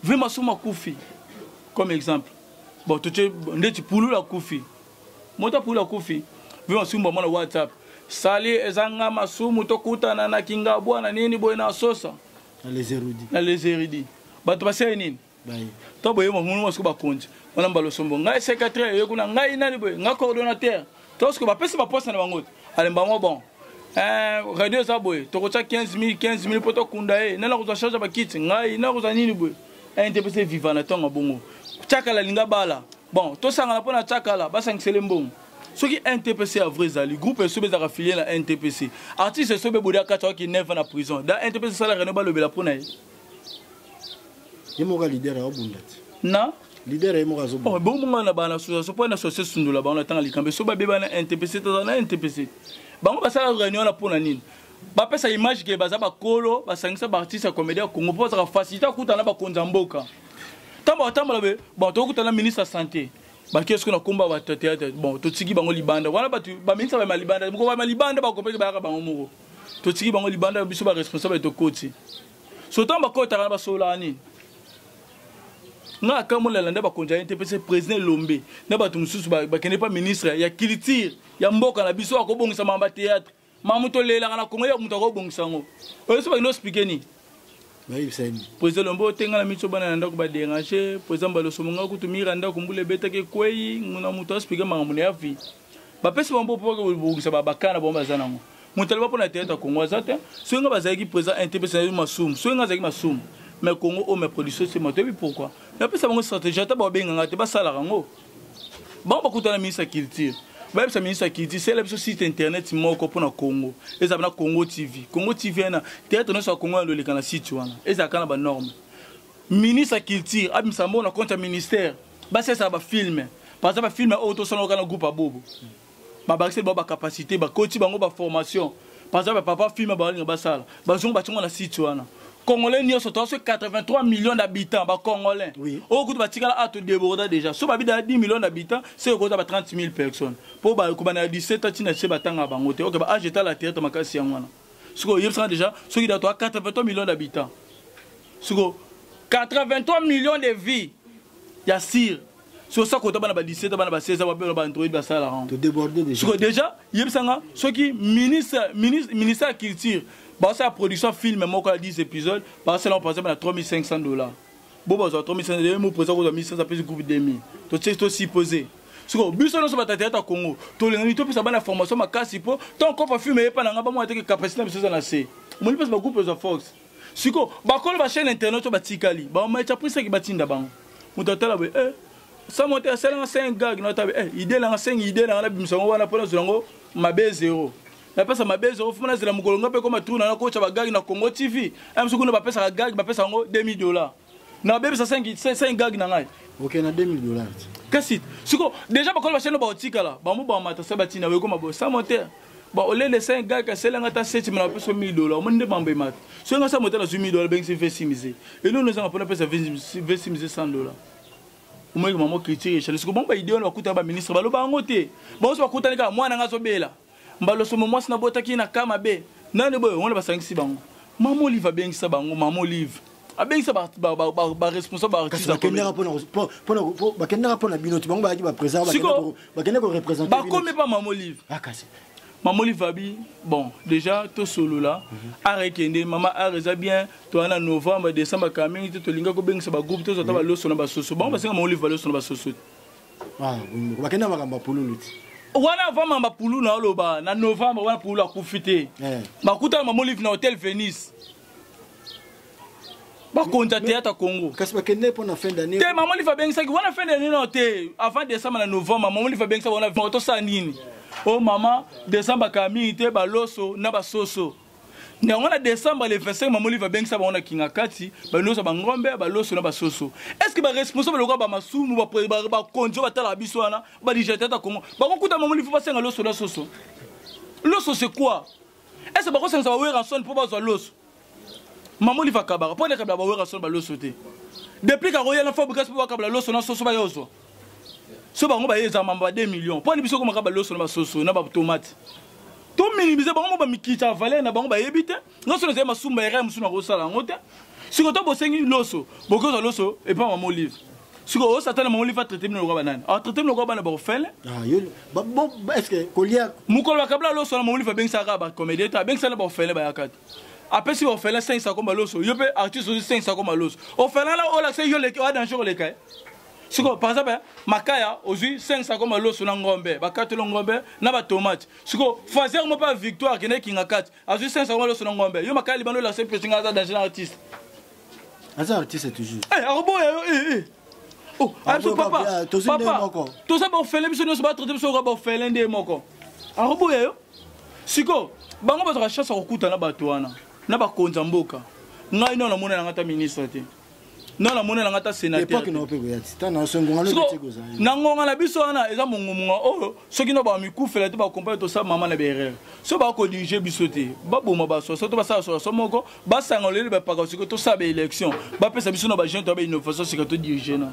vi masumu akufi comme exemple bon totie ndeti pululu akufi moto ya pululu akufi vi masumu bamona whatsapp sali eza nga masumu tokutana na kingabwa na nini boye na sosa na les erudits bato basali nini to boye mamunu masuku bakonzi wana mbala osombo ngai secrétaire oye kuna ngai nani boye ngai coordonnateur to soki bapesi baposte na bango te alemba mwa bon eh, radio eza boye tokotya 15 000 15 000 mpo tokunda ye nani akozwa charge ya bakiti ngai nani akozwa nini boye ente mpe se viva na ntongo bongo tiakala linga bala bon tosangana mpo na tiakala basangisele mbongo soki ntpc ya vrai ezali groupe esobe ezalaka filie na ntpc artiste esobe bodi akati awaki 9 na prison da ntpc esala reno balobela mpo na ye ye moko leader aobunda ti na leader ye moko azobonga oh, bomonga na bana association mpo na association sundola bango na ntango likambo so babeba na ntpc toza na ntpc bango basala réunion wana mpo na nini bapesa image ke baza bakolo basangisa baartiste ya comédie ya congo mpo bazaka facilité akuta na bakonzi ya mboka ntango batambola be bon tokuta na ministre ya santé bake soki na komba bato ya teatre bon totiki bango libanda wana bato baminisa bama libanda moko bama libanda bakopeki bayaka bango moko totiki bango libanda ya biso baresponsable tokoti sotan bakotaka na basololaka nini nga akamolala nde bakonzi aye te mpe se président elombe na bato mosusu bakende mpa ministre ya culture ya mboka na biso akobongisa mama bateatre mama moto olelaka na kongo ya moto akobongisa yango oyo so bakende ospike nini président lombo otenga na miso bana na ndako baderange président balosomo nga kutu mira ndako mbula ebetaki ekwei nguna moto aspike makambo na ya vie bapesi bango mpo bakobongisa babakana bango baza nango moto aloba mpo na teyata congo aza te soki ngai bazalaki présent intps nayebi masumu soki ngai azalaki masumu mais congo oyo oh, ma production sema toyebi pourquoi napesa bango stratégie ata babenga ngai te basalaka yango bango bakutana ministre ya culture bayebisa ministre ya culture sela biso site internet moko mpo na congo ezala na congo tv congo tv ena teyatre nyonso ya congo ya loleka na site wana ezalaka na banorme ministre ya culture abimisa mbo na compte ya ministère basesa ba film par exemple ba film oyo tosala kana groupe abobo ba bakisi ba ba capacité ba coach bango ba formation par exemple papa film ba linga basala ba zongo ba tongo na site wana congolais nyonso toza so 83 millions d'habitants bacongolais oui. oyo kutu batikala ato deborda déjà so babida 10 millions d'habitants se ekoza ba 30 000 personnes mpo bakobanda ya 17 ntina se batanga bango te ok baage etala theatre makasi yango wana sikoyo oyebisaka déjà soki dato a 83 millions d'habitants sikoyo 83 millions de vie ya sire soki osa kota bana ba 17 bana ba 16 babela ba android basala yango sikoyo déjà yebisanga soki ministre ministère ya culture baosala production film moko ya 10 épisode baosala yango par exemple na 3500 dollars bo bazwa 3500 ye mo président kozwa 1500 apesi groupe 2000 totie to supposé sikoyo biso nyonso batateata congo tolingaki topesa bana formation makasi mpo ntango kofa filme eyepa na ngai bamona teke capacité na biso eza na se omoni mpesa bagroupe ezwa force sikoyo bakolo bachaine internet oyo batikali bamacha prisaki batinda bango moto atala boye eh, samo te asalanga 5 gag na tabe eh, ide nanga 5 ide nanga nabimisa yango wana mpo nazwa yango mabe zero napesa mabe ezo ofuma nazela mokolo nga mpe ekoma tour na nakotya bagage na congo tv ya mosu kuna bapesaka gage bapesa yango 2000 dollar nabebisa 5 gage na ngai oke na 2000 dollar kasi siko deja bakolo bashene baotikala bango bamata se batina ekoma bo sa moteur ba olele 5 gage kasela nga ta 7 mena bapesa 1000 dollar omoni nde mambo emata soki nga sa moteur nazwi 1000 dollar bengisi vesi mise eloni ezanga mpona pesa vesi mise 100 dollar omoyeke mamo critique echale siko bango baide wana bakutana baministre baloba yango te bango so bakutani kaka mwana nga azobela mbalosombo mwasi nabotaki ye na ka mabe nani boye wana basangisi bango mama olive abengisa bango mama olive abengisa baresponsable bakendaka mpo na bino ti bango bayaki bapresidentbakende korepresente bakomi mpa mama olive ah, mama olive abi bon déjà tosolola mhm. ara ekende mama ara eza bien toya na novembre décembre kaka mingi te tolinga kobengisa bagroupe tozwa ata mhm. baloso na basoso bango mhm. basenga mama olive baloso na basoso te ah, bakenda makambo ya pululu ti wana avant mamba pulu na oloba na novembre wana pulu akufi te eh. bakutana mama olive na hotel venise bakonza théâtre congo kasi bakende mpo na fin d'année te mama olive abengisaki wana fin d'année nao te avant décembre na novembre mama olive abengisaki wana tosala nini o oh, mama décembre akala mingi te baloso na basoso na yango na décembre le 25 mama olive abengisa bango na kingakati balosa bangombe baloso na basoso est ce que baresponsable lokola bamasumu bakonzi oyo batalaka biso wana badijate ata kongo bakokuta mama olive basenga loso na soso loso c'est quoi est ce que bakosangisa bawerrason mpo bazwa loso mama olive akabaka mpo ete akabela bawerrason baloso te depuis kakoya na fabrikas mpo bakabela loso na soso baye ozwa so bango baye eza mamba ba 2 millions mpo ani biso komaka baloso na basoso na batomate to minimize bango mo bamikita valeur na bango bayebi te nga so nazali masumba erreur mosusu nakosala yango te siko to bosengi loso bokozwa loso epa mama olive siko o satana mama olive atraite bino lokola banani atraite bino lokola bana baofele mokolo bakabla loso na mama olive abengisaka kaka bacomédien te abengisaka na baofele bayaka te apesi ofele 5 sako maloso yo mpe artiste ozi 5 sako maloso ofele na olakisa yo leki oya danger koleka ye eh. sikoyo par exemple makaya ozwi 500 koma loso na ngombe bakatelo ngombe na batomate sikoyo fazer mo mpe ya victoire akende kinga kati azwi 500 koma loso na ngombe yo makaya libanda olakisa mpesi ngai aza danger na artiste aza artiste toujours eh, akoboya yo eh, eh. Oh, ah, biso papa papa toza baofele biso nyonso batraite biso oka baofele nde moko akoboya yo sikoyo bango bazwaka chance ya kokuta na bato wana na bakonzi ya mboka ngai nao namona na ngai ata ministre te nga na monela nga ta sénateur na ngonga na biso wana eza mongomonga oyo oh, soki na bamikufela te bakompani tosala mama na baerreur so bakodirige biso te baboma basoso to basala soso moko basanga oleli bapaka siko tosala baélection bapesa biso na bajeune to ya bainnovation sika todirige na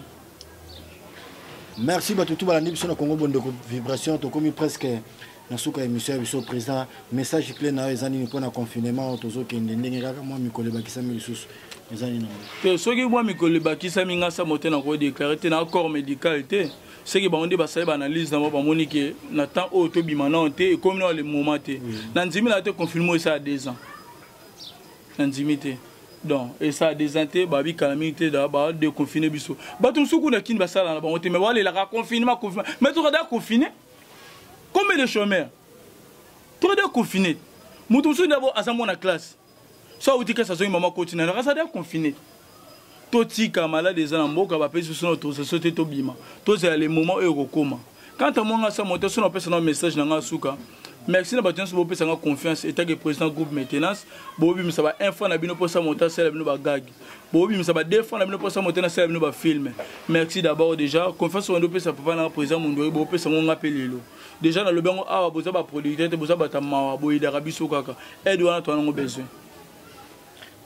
merci bato tu balandi biso na congo bondeko vibration tokomi presque na suka ya émission ya biso président message clé na yo eza nini mpona confinement tozokende ndenge kaka mwa mikolo ebakisami lisusu eza nini te soki mwa mikolo ebakisami nga sa mote nakoki déclare te na accord médical te seke bango nde basali baanalyse na bango bamoni ke na temps oyo tobima nao te ekomi nao le moment te na ndimi na yo te confinement esala deux ans nandimi te donc esa desin te babikala mingi te badeconfine biso bato mosusu kuna kini basala na bango te mai balelaka confinement confinement mai tokada confine combien de chômeur tokada confine moto mosusu nde aza mwana classe so auti kasa azongi mama koti na nakasada confine totika malade eza na mboka bapesi biso na autorisation te tobima tozala le moment oyo ekokoma kanta mwanga sa moto so napesa na message na ngai suka merci na bato nyonso bopesa ngai confiance etake président groupe maintenance bobimisa ba un franc na bino mposa moto asala bino bagage bobimisa ba deux franc na bino mposa moto nasala bino bafilme merci d'abord déjà confiance wandi opesa papa na président mondoi bopesa ngo ngai mpe lelo déjà nalobi yango awa boza baproducteur te boza bata mawa boyedaka biso kaka aide wana toanango besoin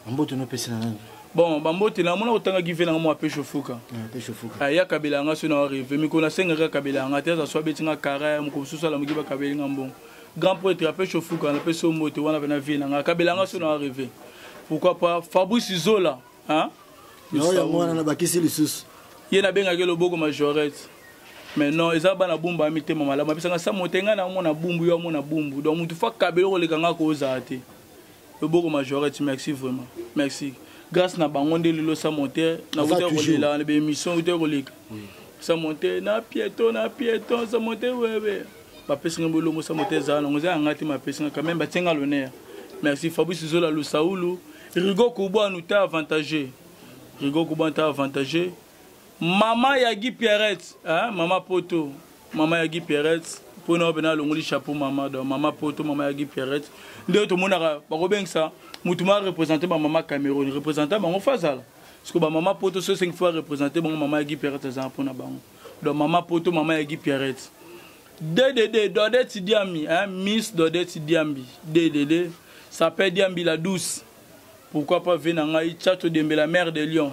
bambote nopesi na nani bon bambote na mona kotanga give nanga mwa pesho fuka aya ah, kabela yanga so na reve mikolo nasengaka kabela yanga te aza so abeti nga kara mokolo mosusu alamuki bakabeli nga mbongo grand prêtre ya pesho fuka napesi yo mbote wana mpe na vie nanga kabela yanga so na reve pourquoi pas fabrice zola yango wana nabakisi lisusu ye nabengaki loboko majorete mais non eza bana bumbu ya mitema malamu apesanga sa motenga na yango mona bumbu yo amona bumbu donc motu fo akabeli okoleka nga kozala te loboko majorette merci vraiment merci grâce na bango nde lelo sa monte nakuta kolela na baémission kuta koleka sa monte na pieton na pieton sa monte wewe bapesi ngai bolongo sa monte ezala nango eza yanga te mapesi ngai quand même batie ngai l'honneur merci fabrice zola lusaulu rigo kubwa nuta avantageux rigo kubwa nuta avantageux Mama ya Guy Pierrette, hein, mama poto, mama ya Guy Pierrette, mpo na obe na longoli chapeau mama, donc mama poto, mama ya Guy Pierrette, nde tomonaka bakobengisa motu ma représente ba mama Cameroun, représente bango fazala. Parce que ba mama poto so sengi fois représente bango mama ya Guy Pierrette aza mpo na bango. Donc mama poto, mama ya Guy Pierrette. DDD, Dodette Diambi, hein, Miss Dodette Diambi, DDD, ça peut Diambi la douce. Pourquoi pas Venangai, Chato Dembe, la mère de Lyon.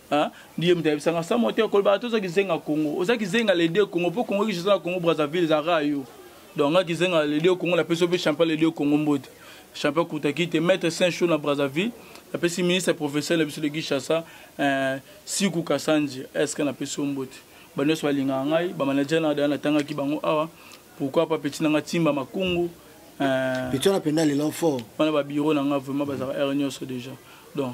ndiye moto ayebisa nga samo te kolobaka te oza kizenga congo oza kizenga lede congo mpo congo kishi oza na congo brazzaville ezalaka yo donc nga kizenga lede congo napesi yo mpe champion lede congo mbote champion kutaki te maître saint chaud na brazzaville napesi ministre professeur na biso de kinshasa euh, siku kasanje eske napesi yo mbote banyonso balingaka ngai bamanager na daya natangaki bango awa pourquoi pas petit na nga timba makungu euh, petit wana mpenza lelo fort wana babiro na nga vraiment bazalaka heure nyonso déjà donc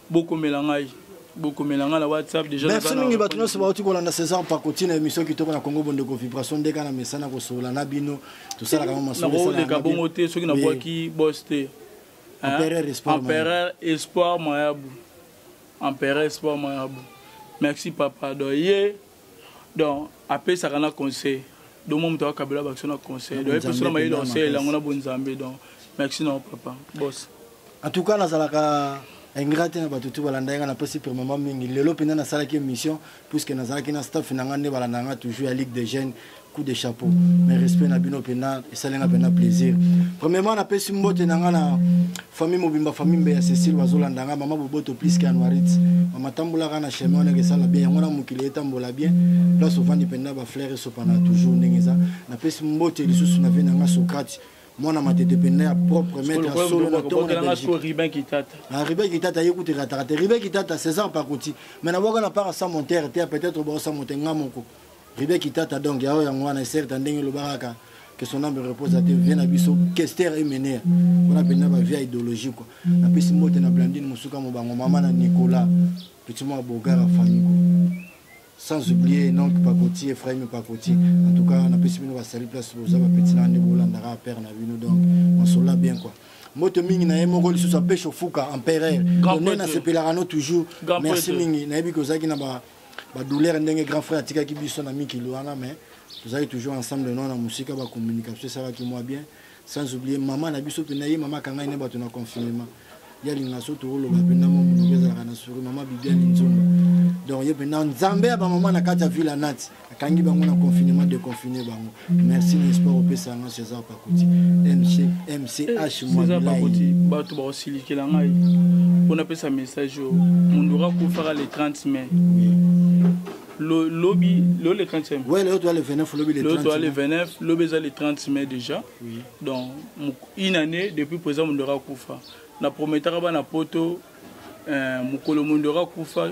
bokomela ngai bokomela ngai na whatsapp déjà merci mingi bato nyonso bauti kolanda césar pakoti na émission kitoko na congo bondeko vibration nde kaka na mesana kosolola na bino tosalaka ma masololeka bongo te soki nabwaki bos te empereur espoir mayabu empereur espoir mayabu merci papa do ye donc apesaka na conseil donc mwa moto akabela bakso na conseil donc epeso na mayele conseil yango na bonzambe donc merci na papa bos en tout cas nazalaka ingrat na bato tu balanda yanga napesi premièrement mingi lelo mpenza nasalaki émission puisque nazalaki na staff na ngai nde balanda yanga toujours ya ligue de jeunes coup de chapeau mais respect na bino mpena esali nga mpena plaisir premièrement napesi mbote na nga na famille mobimba famille mbe ya cécile bazolanda nga mama boboto plus ke anuarit mama tambolaka na chemin wana ekesala bien yango na mokili etambola bien place ovandi mpena bafleur esopana toujours ndenge eza napesi mbote lisusu na vie na nga socrate mwana matete mpena ya propre maître ya solo na tongo na belgiqueriben kitata ye kutu ekataka te riben kitata césar pakoti mais nabwaka na part ya sa montere te peut-être bao sa monte nga moko Ribe Kitata donc yao yango wana certes ndenge olobaka kaka que son âme repose à Dieu vie na biso Kester Emener wana mpenza ba vie idéologie quoi napesi mbote na Blandine Mosuka Mobango mama na Nicolas petit mwa Bogara Faniko sans oublier donc Pakoti Ephraim Pakoti en tout cas napesi bino basali place boza ba petit na nde bolandaka père na bino donc on se l'a bien quoi mbote mingi na ye moko lisusu apeshe ofuka empereur nde nasepelaka no toujours merci mingi nayebi kozalaki na ba badouleur ndenge grand frère atikaki biso na mikili wana mais tozalaki toujours ensemble nao na mosika bacommunication esalaki mwa bien sans oublier mama na biso mpenza ye mama akangai ne bato na confinement ye alinga so tooloba mpenza mwa monoko ezalaka na souri mama bibiani nzomba donc ye mpenza nzambe ya bamama na kati ya ville ya nati akangi bango na confinement deconfine bango merci na espoir opesa nga césar pakuti mch mwapakuti bato bakosilikela ngai mpo napesa message oyo mondura kufaka le 30 mai lobi lelo le 30 mai ouais, lelo toa le 29 lobi le 30 toa le 29 lobi eza le 30 mai déjà oui. donc une année depuis président mondura kufa na prometaka bana poto euh, mokolo mondura kufa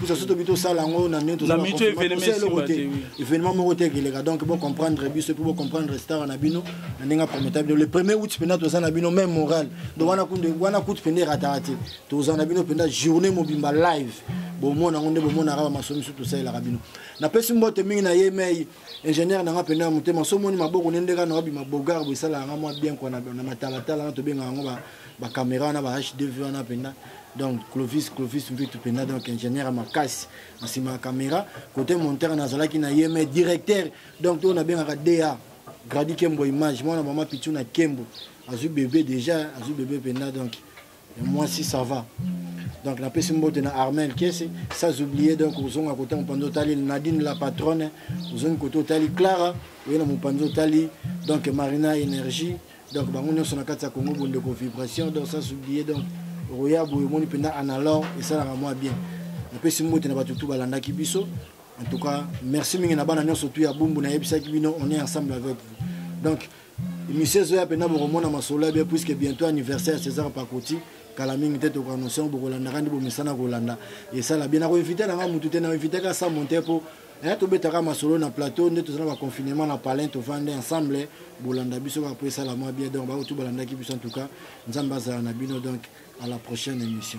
pusa so tobi tosala yango na ndenge tozaeloko te événement moko te ekeleka donc bocomprendre biso mpe bocomprendre star na bino na ndenge aprometa bino le premier out mpenza toza na bino même moral donc wana kutu mpenza erataka te toza na bino mpenza journée mobimba live bomona yango nde bomonaka bamaso misu tosalelaka bino napesi mbote mingi na ye mei ingénieur nanga mpenza ya motema so omoni maboko nde ndeka na wabima bogar boesalaka nga mwa bien kua na matalatala na tobengaka yango ba camera wana ba hdv wana mpenza donc clovis clovis mvitu mpenza donc ingénieur ya makasi na nsima ya camera côté monteur nazalaki na ye mais directeur donc oyo nabengaka da gradi kembo image mwana mama pitu na kembo azwi bebe déjà azwi bebe mpenza donc ya mwasi ça va donc napesi mbote na armel kese sans oublier donc ozonga kota mopanzi otali nadine la patronne ozongi kota otali clara oye na mopanzi otali donc marina énergie donc bango nyonso na kati ya congo bondeko vibration donc sans oublier donc roya boye omoni mpenza analor esalaka mwa bien napesi mbote na bato tu balandaki biso en tout cas merci mingi na bana nyonso tu ya bumbu nayebisaki bino on est ensemble avec vous donc émission ezoya mpenza bokomona masolo ya bien puisque bientôt anniversaire ya césar pakoti kala mingi te tokoannonce yango bokolandaka nde bomesana kolanda esala bien nakoinvite na ngai motu te nainvitaka sa monte mpo eh, tobetaka masolo na plateau nde tozala baconfinement na palin tovandi ensemble bolanda biso kaka mpo esala mwa bien donc baoyo tu balandaki biso en tout cas nzambe azala na bino donc à la prochaine émission